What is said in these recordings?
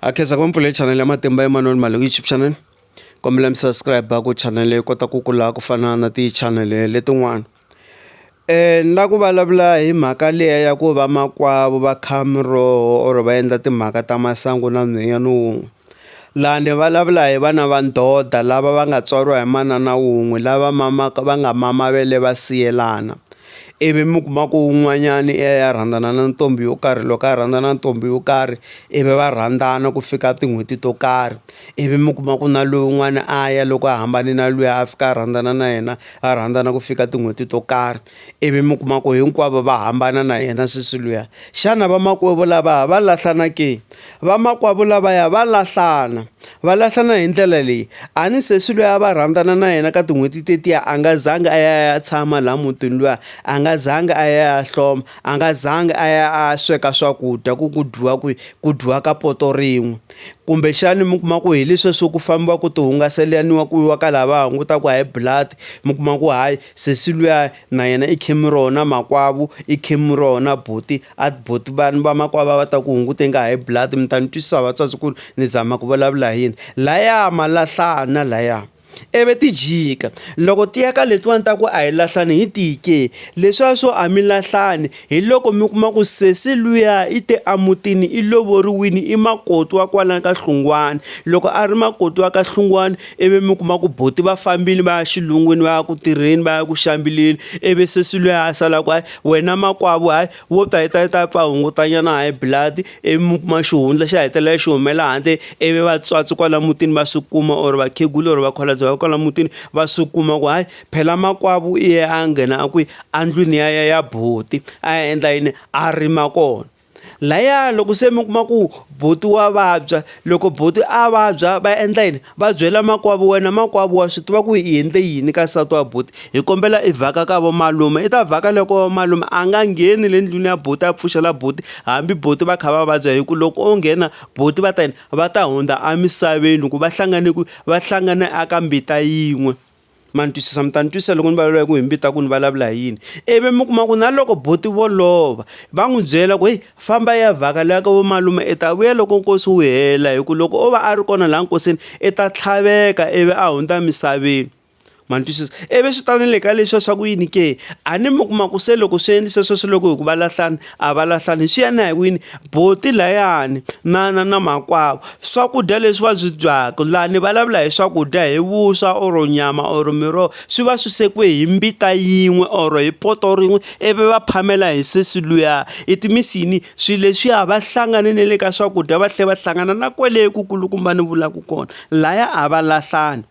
a khensa ku va mpfule channel ya matimba emanuel mali youtube channel kombela mi subscribe ku channel leyi kota ku kula ku fana na ti-channel letin'wana um ni la ku vulavula hi mhaka liya ya ku va makwavo va kha miroho or va endla timhaka ta masangu na nhwenyana wun'we laha ni vulavula hi vana va ndoda lava va nga tswariwa hi manana wun'we lava mamaka va nga mama va le va siyelana ivi mi kuma ku un'wanyani i ya i ya rhandzana na ntombi yo karhi loko a rhandza na ntombi yo karhi ivi va rhandzana ku fika tin'hweti to karhi, ivi mi kuma ku na lowun'wana a ya loko a hambane na luya a fika a rhandzana na yena va rhandzana ku fika tin'hweti to karhi, ivi mi kuma ku hinkwavo va hambana na yena sesi luya xana vamakwavo lava va lahlana ke? Vamakwavo lavaya va lahlana, va lahlana hi ndlela leyi a ni sesi loyi a va rhandzana na yena ka tin'hweti tetiya a nga zangi a ya ya tshama laha mutini luya a nga zangi a ya ya hloma a nga zangi a ya a sweka swakudya ku ku dyiwa kwihi ku dyiwa ka poto rin'we kumbexani mi kuma ku hi leswi swo ku fambiwa ku ti hungaselaniwa ku yiwa ka laha va hungutaka high blood mi kuma ku hayi sesi luya na yena i khemi rona makwavo i khemi rona buti A buti vanhu va makwava va ta ku hunguta inga high blood mi ta ni twisisa vatswatsi ku ni zama ku vulavula hi yini laya ma lahlana laya ivi ti jika loko ti ya ka letiwani ta ku a hi lahlani hi tike leswiya swo a mi lahlani hi loko mi kuma ku sesi luya i te emutini i lovoriwini i makoti wa kwalani ka hlungwani loko a ri makoti wa ka hlungwani ivi mi kuma ku buti va fambile va ya xilungwini va ya ku tirheni va ya ku xambileni ivi sesi luya a sala ku wena makwavo hayi wo ta ta ta pfa hungutanyana high blood ivi kuma xihundla xi hetelela xi humela handle ivi vatswatsi kwala mutini va swi kuma or vakhegula or vakholabye va kwala mutini va swi kuma ku hayi phela makwavo iye a nghena a kwi a ndlwini ya ya ya buti a endla yini a rima kona Laya loko se mi kuma ku buti wa vabya loko buti a vabya va endla yini va byela makwavo wena makwavo wa swi tiva ku i endle yini ka nsati wa buti hi kombela i vhaka ka vo malume i ta vhaka loko malume a nga ngheni le ndlwini ya buti a pfuxela buti hambi buti va kha va vabya hi ku loko o nghena buti va ta yini va ta hundza emisaveni hi ku va hlangane ku va hlangane a ka mbita yin'we. ma ni twisisa mi ta ni twisisa loko ni vulavula hi ku hi mi vita ku ni vulavula hi yini ivi mi kuma ku na loko boti vo lova va n'wi byela ku heyi famba ya vhaka leya ka vo malume i ta vuya loko nkosi wu hela hi ku loko o va a ri kona laha nkosini i ta tlhaveka ivi a hundza emisaveni ma ni twisisa ivi swi ta ni le ka leswiya swa ku yini ke a ni mi kuma ku se loko swi endlise sweswo loko hi ku va lahlana a va lahlani swi ya na hi wini boti layani na na na makwavo swakudya leswi va swi dyaka lani vulavula hi swakudya hi vuswa or nyama or miroho swi va swi sekiwe hi mbita yin'we or hi poto rin'we ivi va phamela hi sesi luya i timisini swilo leswiya va hlangane ne le ka swakudya va tlhe va hlangana na kwele ku kulukumba ni vulaka kona laya a va lahlani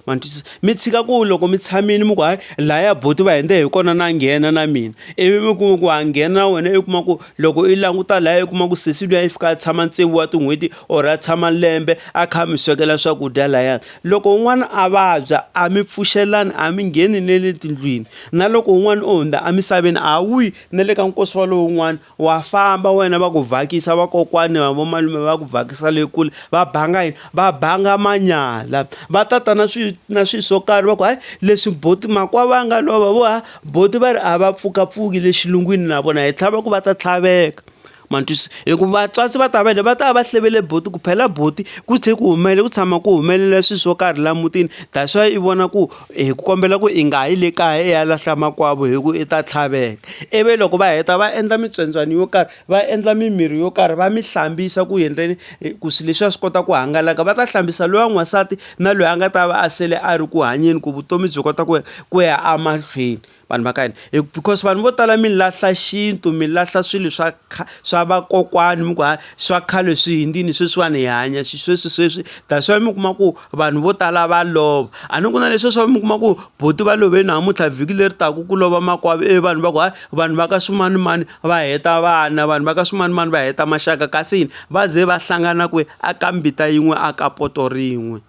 ma ni twisisa mi tshika ku loko mi tshamile mi ku hayi laya boti va hende hi kona na nghena na mina ivi mi kuma ku ha nghena na wena i kuma ku loko i languta laya i kuma ku sesi luya i fika a tshama tsevu wa tin'hweti or a tshama lembe a kha mi swekela swakudya layani loko un'wana a vabya a mi pfuxelani a mi ngheni ne le tindlwini na loko un'wana o hundza emisaveni a wuyi na le ka nkosi wa lowun'wana Wa famba wena va ku vhakisa vakokwani va vomalume va ku vhakisa le kule va banga yini va banga manyala va tata na swi na swi swo karhi va ku hayi leswi boti makwa va nga lova vo ha boti va ri a va pfukapfuki le xilungwini na vona hi tlhava ku va ta tlhaveka ma twisisa hi ku vatswatsi va ta va le va ta va hlevele boti ku phela boti ku tlhe ku humelela ku tshama ku humelela swi swo karhi la mutini that's why i vona ku hi ku kombela ku i nga yi le kaya i ya lahla makwavo hi ku i ta tlhaveka ivi loko va heta va endla mitswendzwani yo karhi va endla mimirhi yo karhi va mi hlambisa ku endleni ku swilo leswiya swi kota ku hangalaka va ta hlambisa loyi wa n'wansati na loyi a nga ta va a sele a ri ku hanyeni ku vutomi byi kota ku ku ya emahlweni. vanhu va ka hina hi because vanhu vo tala mi lahla xintu mi lahla swilo swa swa vakokwani mi ku ha swa khale swi hindzini sweswiwani hi hanya sweswi sweswi that's why mi kuma ku vanhu vo tala va lova a ni ku na leswi swa mi kuma ku boti va love namuntlha vhiki leri taku ku lova makwavo e vanhu va ku hayi vanhu va ka swimanimani va heta vana vanhu va ka swimanimani va heta maxaka kasi yini va ze va hlangana kwe a ka mbita yin'we a ka poto rin'we